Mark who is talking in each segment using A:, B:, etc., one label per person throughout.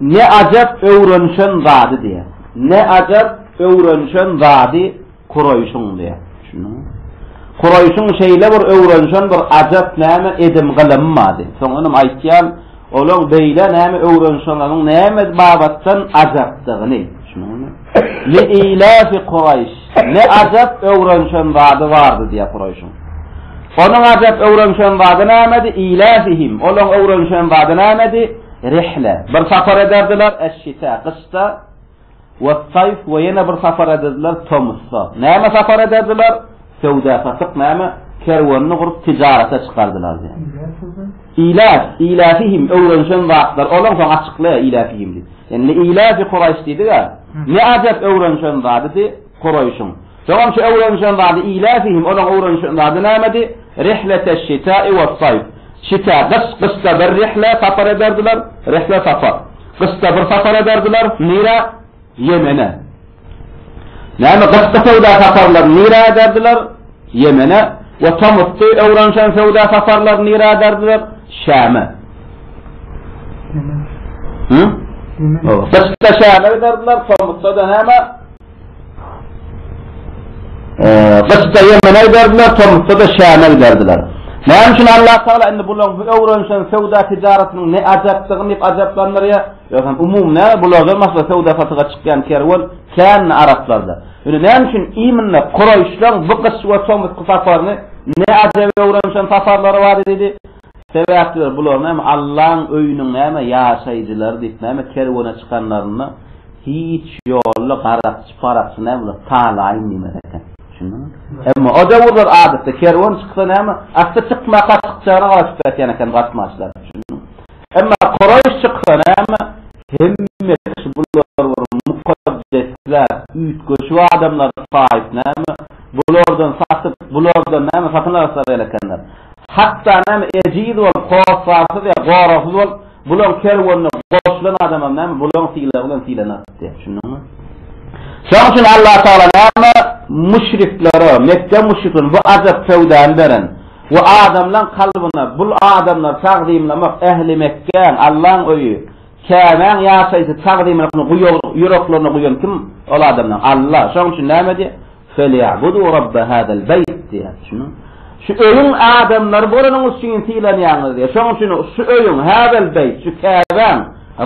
A: Ne ajap öwrenişen zady diýýär. Ne ajap öwrenişen zady kuraýşyň diýýär. Düşündiňmi? Kuraýşyň şeýle bir öwrenişen bir ajap näme edim gylymy bardy. Soňunam aýtýan, olaň beýle näme öwrenişenleriň näme babatdan ajapdygyny. Düşündiňmi? Li-ilafi Kuraýş, ne ajap öwrenişen zady bardy, diýýär Kuraýşyň. Onuň ajap öwrenişen zady nämedi? Ilafihim, olaryň öwrenişen zady nämedi? Rihle, bir sapar ederdiler, eş-şita, gyşda, wes-saýf, we ýene bir sapar ederdiler, tomusda. Näme sapar ederdiler? Söwda-satyk, näme, kerwenini gurup, tijarata çykardylar, diýýär. Iläf, iläfihim, öwrenişen zatlar, ol soň açyklaýar iläfihim diýip. Indi liiläfi Kuraýş diýdi-ä. Ne ajap öwrenişen zadydy Kuraýşyň. Soňam şu öwrenişen zady iläfihim, olaň öwrenişen zady nämedi? Rihleteşşita'i wessaýf. Şita, gyş, gyşda bir rihle, sapar ederdiler, rihle, sapar. Gyşda bir sapar ederdiler, nirä? Ýemene. Näme gyşky söwda saparlaryny nirä ederdiler? Ýemene. We tomusky öwrenişen söwda saparlaryny nirä ederdiler? Şäme. Hı? Gyşda Şäme giderdiler, tomusda da näme? Gyşda Ýemene giderdiler, tomusda da Şäme giderdiler. Näme üçin Allah Taala indi bularyň öwrenişen söwda tijaretiniň ne ajapdygyny diýip ajaplandyrýar? Ýöne umumy näme bulardan başga söwda-satyga çykýan kerwen känmi araplarda? Ýöne näme üçin imine Kuraýşlaň bu gyş we tomusky saparyny ne ajaba öwrenişen saparlary bardy diýdi? Sebäpdir bular näme Allaň öýüniň näme ýaşaýjylary diýip näme kerwene çykanlarynda hiç ýolly garakçy parakçy näme bular talaýyn diýmez eken. Düşündiňizmi? Emma o döwürler adatda kerwen çyksa näme asty çykma gaçykçana garaşyp ýatýan eken gatmaçlar. Emma Koraýş çyksa näme, hemme kişi bular bir mukaddesler, üýtgeşik adamlar saýyp näme, bulardan satyp, bulardan näme satyn alaslar gel ekenler. Hatda näme ejiz bolup, hossarsyz ýa goragsyz bolup, bulaň kerwenine goşulan adamam näme bulaň sylagy bilen sylanar diýýär. Düşündiňmi? Şonuň üçin Allatagala näme müşriklere, Mekge müşriklerine bu ajap söwdany beren. We adamlaň kalbyna bul adamlary tagzymlamak, ähli Mekgäň, Allaň öýi, Käbäň ýaşaýjy tagzymlamaklygyny guýugyryk ýüreklerine guýan kim? Ol adamlaň Alla. Şonuň üçin näme diýýär? Feli'budu Rabbe hadal beýt diýýär. Düşündiňmi? Şu öýüň adamlary bolanyňyz üçin sylanýaňyz diýýär. Şonuň üçin şu öýüň, hadal beýt, şu Käbäň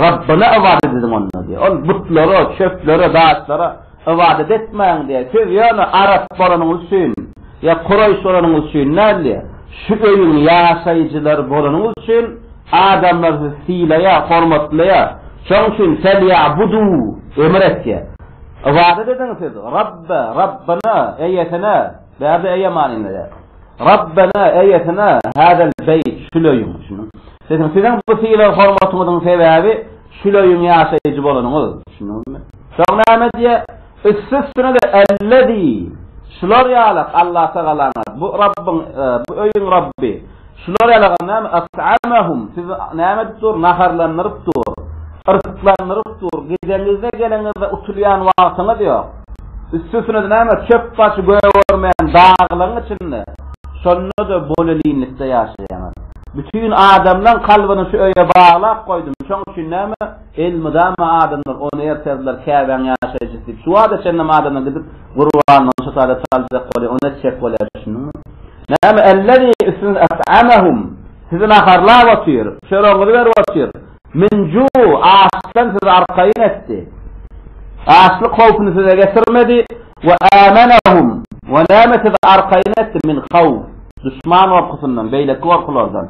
A: Rabbyna ybadat ediň onda diýýär. Ol butlary, çöpleri, daşlara Ybadat etmäň diýýär. Siz ýöne arap bolanyňyz üçin, ýa kuraýyş bolanyňyz üçin däl, şu öýüň ýaşaýjylary bolanyňyz üçin adamlar sizi sylaýar, hormatlaýar. Şonuň üçin Felýabudu, emr etýär. Ybadat ediň siz Rabbe, Rabbana, eýesine, bärde eýe manyny berýär. Rabbena, eýesine, hâzel beýt, şul öýüň, düşündiňmi? Siziň, siziň bu sylag-hormatyňyzyň sebäbi şul öýüň ýaşaýjy bolanyňyz. Şunumy? Soň näme diýýär? Üsti-üstüne-de Ellezi, şular ýalak Allatagalaňyz, bu Rabbyň, bu öýüň Rabby, şular ýalaga näme, et'amahum, sizi näme edip dur, naharlandyryp dur, yrsyklandyryp dur, gideňizde, geleňizde utulýan wagtyňyz ýok. Üsti-üstüne-de näme, çöp-gaç gögermeýän daglaryň içinde, şonda-da bolelinlikde ýaşaýaňyz. Bütin adamlaň kalbyny şu öýe baglap goýdum, şoň üçin näme, elmydama adamlar ony ertezler Käbäň ýaşaýjysy diýip, şu wada çenlem adamlar gidip gurbanyny şu sada saljak bolýar, ony etjek bolýar, düşündiňmi? Näme, ellezî üstüňiz et'amahum, sizi naharlap otyr, çöregiňizi berip otyr, min ju, açdan sizi arkaýyn etdi, açlyk howpuny size getirmedi, We âmenehum, we näme sizi arkaýyn etdi, min hawf, duşman gorkusyndan, beýleki gorkulardan.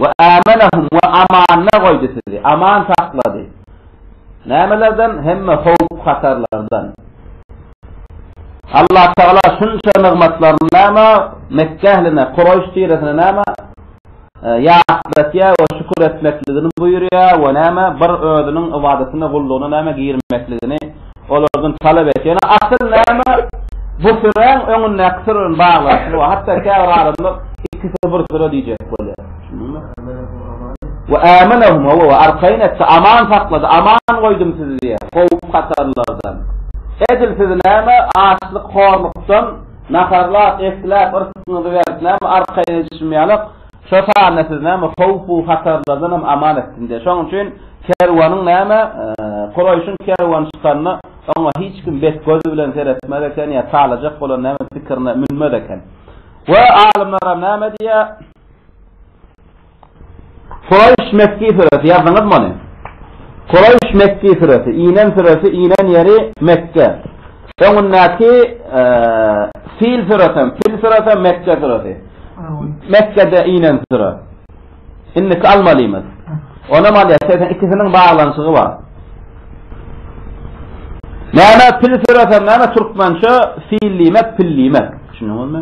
A: We âmenehum, we amanda goýdy sizi, aman saklady. Nämelerden? Hemme howp-hatarlardan. Allatagala şunça nygmatlaryny näme Mekge ähline, Kuraýş tiresine näme Ýatlatýar we şükür etmekligini buýurýar we näme, bir özüniň ybadatyna, gullugyna näme, girmekligini olardan talap et. Ýöne asyl näme, bu süräň öňündäki süre bilen baglanyşygy bar. Hatda käbir adamlar ikisi bir süre diýjek bolýar. Ve âmenehum, hawa, we arkaýyn etdi, aman saklady, aman goýdum sizi diýýär, howp-hatarlardan. Edil sizi näme, açlyk, horlukdan Naharlap, esläp, yrsgyňyzy berip, näme arkaýyn edişim ýalak, şo sanda sizi näme howp-u hatarlardan hem aman etsin diýýär. Şonuň üçin kerweniň näme, Kureýşiň kerweny çykanda, oňa hiç kim bet gözi bilen seretmez eken ýa çalajak bolan näme pikirine münmez eken. We alymlar hem näme diýýär? Kureýş Mekki süresi, ýazdyňyzmy ony? Kureýş Mekki süresi, inen süresi, inen ýeri Mekge. Öňündäki Fil süresi hem, Fil süresi hem Mekge süresi. Mekgede inen süre. Indiki almalymyz. Onam alýas, sebäbi ikisiniň baglanyşygy bar. Näme Fil süresi näme türkmençe Fil diýmek, Pil diýmek. Düşündiňizmi?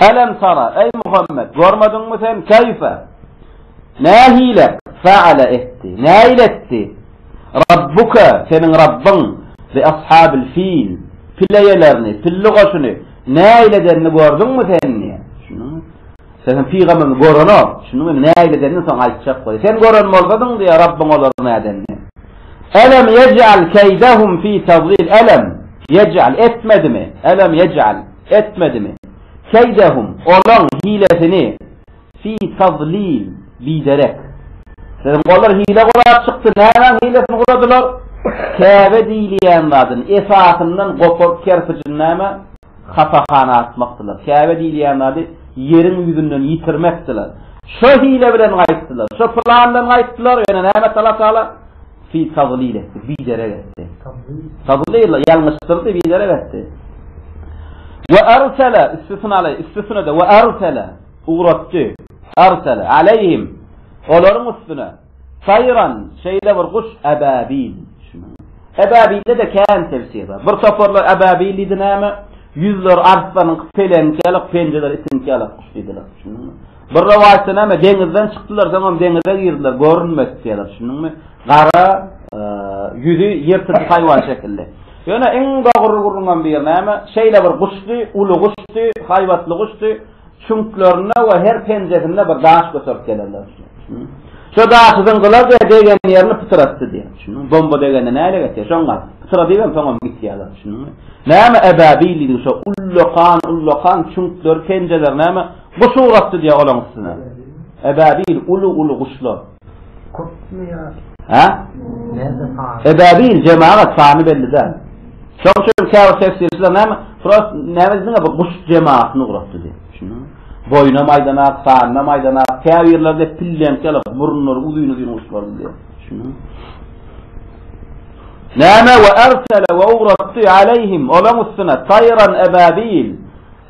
A: Elem tara, eý Muhammet, görmediňmi sen, keýfe, nähili, feale etdi, näil etdi, Rabbuke, seniň Rabbyň, bi ashabil fil, pil eýelerini, pilli goşuny, näil edenini gördüňmi sen, diýýär. Düşündiňmi? Sen pygamberimizi görenok, düşündiňmi? Indi näil edenini soň aýtjak goý. Sen gören bolsadyň, diýýär, Rabbyň olary nädenini. Elem ýej'al keýdehum fi tadlil, elem ýej'al etmedimi, elem ýej'al, Etmedimi? Keýdehum, olaň hilesini, fi tadlil, biderek. Siziň olar hile gurap çykdy, nämäň hilesini guradylar? Käbe diýilýän zadyny esasyndan goparyp kerpijiň näme, hasahana atmakdylar. Käbe diýilýän zady ýeriň ýüzünden ýitirmekdiler. Şo hile bilen gaýtdylar. Şo plan bilen gaýtdylar, ýöne näme tala-tala? Fil taglyl etdi, biderek etdi. Taglyl, ýalňyşdyrdy, biderek etdi. We arsala, üstüsini alaý, üstüsine-de, we arsala, ugratdy, arsala, aleýhim, olaryň üstüne, taýran, şeýle bir guş, ababil, ababilde-de kän tefsir bar. Bir toparlar ababil diýdi, näme, ýüzleri arslanyňky, peleňki ýaly, penjeleri itiňki ýaly guş diýdiler. Bir rowaýatda näme, deňizden çykdylar, soňam deňize girdiler, görünmedik diýerler, düşündiňmi? Gara, e, ýüzi ýyrtyjy haýwan şekilli. Ýöne iň dogry gurulman bir näme, şeýle bir guşdy, uly guşdy, haýbatly guşdy, çüňklerinde we her penjesinde bir daş göterip gelenler. Şo daşy zyňgylar diýip degen ýerini pytyratdy diýip. Şunuň bomba degende näle geçýär? Şoň gal. Pytyra diýip soňam gitýärler. Şunuň. Näme ebabil diýdi şo ullakan ullakan çüňkler penjeler näme Guş ugrapdy diýýär olaň üstüne. Ebabil uly-uly guşlar. Köpmi ýa? Hä? Näme sany? Ebabil jemagat sany belli däl. Şoň üçin käbir tefsirçiler näme? Prost näme diýdiňe bu guş jemagatyny ugrapdy diýip. Düşündiňmi? Boýuna maýdana, sanyna maýdana, käbir ýerlerde pilleňk ýaly burunlary uzyn-uzyn guşlar diýip. Düşündiňmi? Näme we ersele we ugratdy aleyhim olaň üstüne tayran ebabil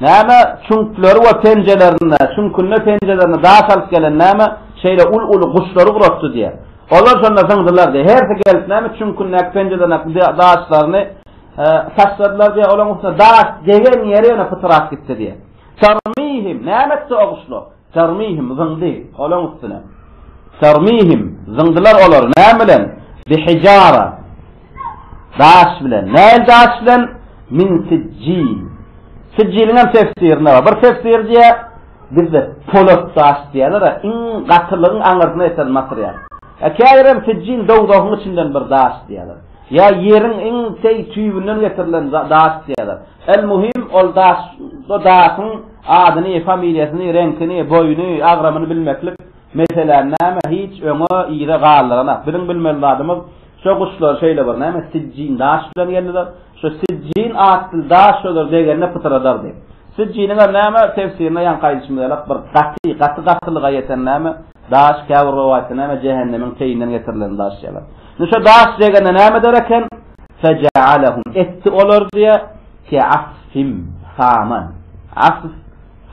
A: Näme çüňkleri we penjelerinde, çüňkünde penjelerinde daş alyp gelen näme şeýle ul-uly guşlary uratdy diýýär. Olar şonda zyňdylar diýýär. Hersi gelip näme çüňkündäki penjelerindäki daşlaryny taşladylar diýýär. Olaryň üstüne daş degen ýeri ýene pytrap gitdi diýýär. Tarmihim, näme etdi o guşlar? Tarmihim, zyňdy, olaň üstüne. Tarmihim, zyňdylar olary, näme bilen? Bihijara, daş bilen. Nähili daş bilen? Min sijjil. Sijjiliň hem tefsirinde bar. Bir tefsir diýýär, bizde polat daş diýerler-ä, iň gatylygyň aňyrsyna ýeten material. E, käbir hem sijjil dowzahyň içinden bir daş diýýärler. Ýa ýeriň iň teý tüýbünden getirilen daş diýýärler. El-muhim, ol daş, o daşyň Adyny, familiýasyny, reňkini, boýuny, agramyny bilmeklik meseläni näme, hiç öňe, yza galdyranok. Biziň bilmeli zadymyz, şo guşlar şeýle bir, näme, sijjin daş bilen geldiler. Şo sijjin atly daş şolar degende pytyradardy. Sijjiniňem, näme, tefsirine ýaňky aýdyşymyz ýalak, bir gaty, gaty-gatylyga ýeten, näme, daş, käbir rowaýatda, näme, jähennemiň teýinden getirilen daş ýaly. Indi şo daş degende näme eder eken? Fejealehum, etdi olar, diýýär, Kä asf him, saman, asf,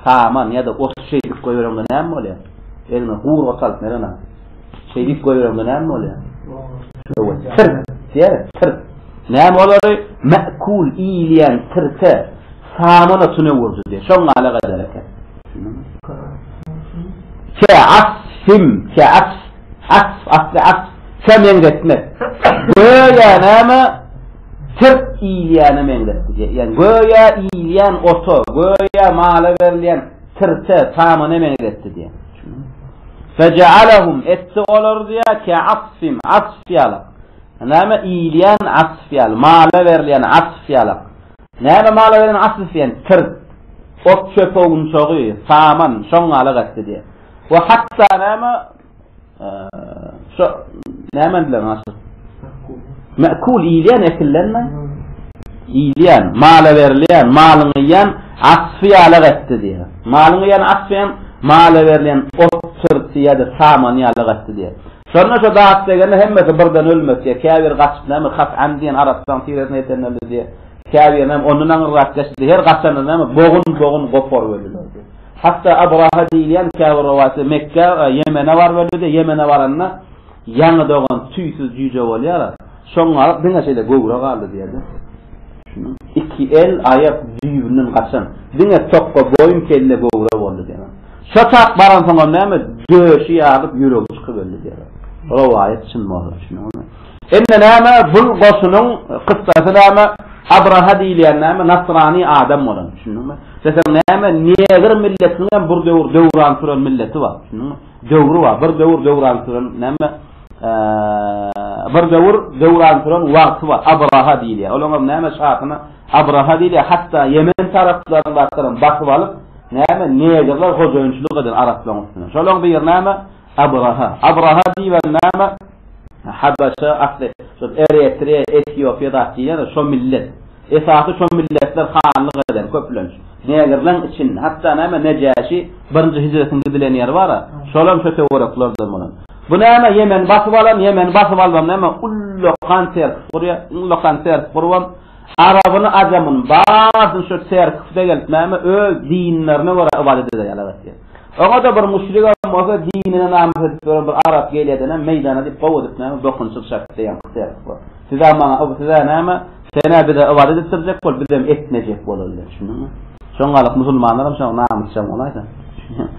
A: saman ýa-da ot şeý diýip goýbereňde näme bolýar? Eliňe gury ot alyp Mergen aga, şeý diýip goýbereňde näme bolýar? Öwez, tirt diýer, tirt. Näme olary? Mäkul, iýilýän tirte saman otuny öwürdi diýer. Şoň alak eder eken. Kä asf him, kä asf, asf, asly asf, kä meňzetmek. Göýä näme? Sirk iýilýäne meňzäpdi diýýän. Göýä iýilýän ota, göýä mala berilýän sirke, samana meňzäpdi diýýän. Feje'alehum etdi olary diýýär ke'asfin, asf ýaly. Näme iýilýän asf ýaly, mala berilýän asf ýaly. Näme mala berilýän asf diýýän sirk. Ot-çöp owunçagy, saman şoň ýaly gatdy diýýär. We hatda näme Şu näme diýler naşy? Mekul iýilýän ekillenme? Iýilýän, mala berilýän, malyň iýýän asfy ýalak etdi diýýär. Malyň iýýän asfy hem mala berilýän ot çyrty ýa-da saman ýalak etdi diýýär. Şonda şu dat degende hemmesi birden ölmedi diýýär. Käbir gaçyp näme hat'an diýen arapçaň tiresine ýeten öldi diýýär. Käbir näme ondan aňyrrak geçdi. Her gaçanda näme bogun-bogun goparyp öldiler diýýär. Hatda Abraha diýilýän käbir rowaýatda Mekgä, Ýemene baryp öldi-de, Ýemene baranda ýaňy dogan tüýsüz jüýje bolýar-a, şoň galyp diňe şeýle göwre galdy diýerler. Düşüniň, iki el, aýak düýbünden gaçan, diňe tokga boýun, kelle göwre boldy diýerler. Şo çak baransoňam näme, döşi ýarylyp, ýüregi çykyp öldi diýerler. Rowaýat çyn bolsa, düşündiňizmi? Indi näme bul goşunyň kyssasy näme Abraha diýilýän näme nasrani adam bolan düşündiňmi? Isteseň näme negr milletiniň hem bir döwür döwran süren milleti bar düşündiňmi? Döwri bar bir döwür döwran süren näme bir döwür döwran süren wagty bar Abraha diýilýär. Olaň hem näme şahyna Abraha diýilýär hatda Ýemen taraplaryndakylaram basyp alyp näme negrler hojaýynçylyk eden araplaryň üstüne. Şolaň bir näme Abraha. Abraha diýibem näme? Habaşa asly şol Eretreýa, Etiopiýa zat diýilýär-de, şo millet. Esasy şo milletler hanlyk eden köplenç. Negrleň içinde. Hatda näme Nejäşi birinji hijretiň gidilen ýeri bar-a, şolam şo töwereklerden bolan. Bu näme Ýemeni basyp alan, Ýemeni basyp alybam näme ullakan serkis gurýar. Iň ullakan serkis gurubam arabyny, ajamyny baryny şo serkisde gelip näme öz dinlerine görä ybadat ederýärler. Oňa-da bir müşrigem bolsa dinine namys edip ýören bir arap gelýädenem meýdana diýip gowy edip näme dokunçyk çakyp beýan kysyardyk bor. Siz-ä maňa yb siz-ä näme, sen-ä bize ybadat etdirjek bol, bizem etmejek bolalyň, düşündiňmi? Şoňalyk musulmanlaram şoňa namysjaň bolaýsa, düşünýäňmi?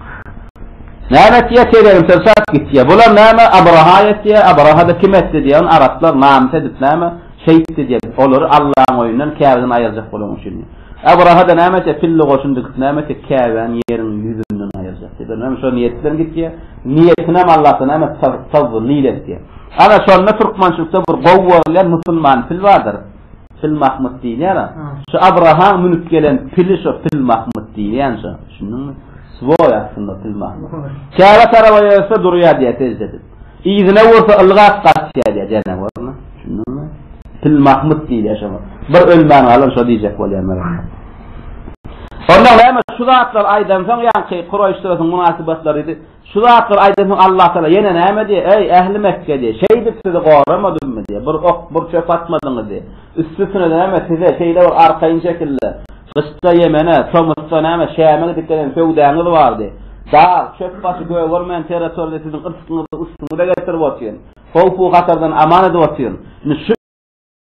A: Näme etýä teregini sen çak gitýä. Bular näme Abraha etýä, Abraha-da kim etdi diýýä, ony araplar namys edip näme şeýtdi diýýä, olary Allaň öýünden, Käbeden aýyrjak bolaň üçin diýip. Abraha-da näme etjek, pille goşun dikip näme etjek, Käbäni ýeriň ýüzünden aýyrjak diýip, öňem şo niýet bilen gitýär. Niýetinem Allahdan näme tawwil etýär. Ana şonda türkmençilikde bir gowy görülýän musulman pil bardyr. Pil Mahmyt diýilýär-ä. Şu Abrahaň münüp gelen pili şo pil Mahmyt diýilýän şo. Düşündiňmi? Swoý aslynda pil Mahmyt. Käbä tarapa ýörse durýar diýýär sejde edip. Yzyna bolsa ylgap gaçýar diýýär janawaryna. Düşündiňmi? Pil Mahmyt diýilýär şoňa. Bir ölmän galan şo diýjek bolýar Myrat. Onda näme şu zatlary aýdansoň ýaňky Kuraýyş suratynyň mynasybatlary diýdi. Şu zatlary aýdansoň Allah Taala ýene näme diýýär? Eý, ähli Mekge diýýär. Şeýdip sizi goramadymmy diýýär. Bir ok, bir çöp atmadyňyz diýýär. Üsti-üstüne näme size şeýle bir arkaýyn şekilde Gyşda Ýemene, tomusda näme, Şäme gidip gelen söwdäňiz bardy. Dag, çöp başy gögermeýän territoriýada siziň yrsgyňyzy üstüňize getirip otyryn. Howp-u-hatardan aman edip otyryn. Indi şu.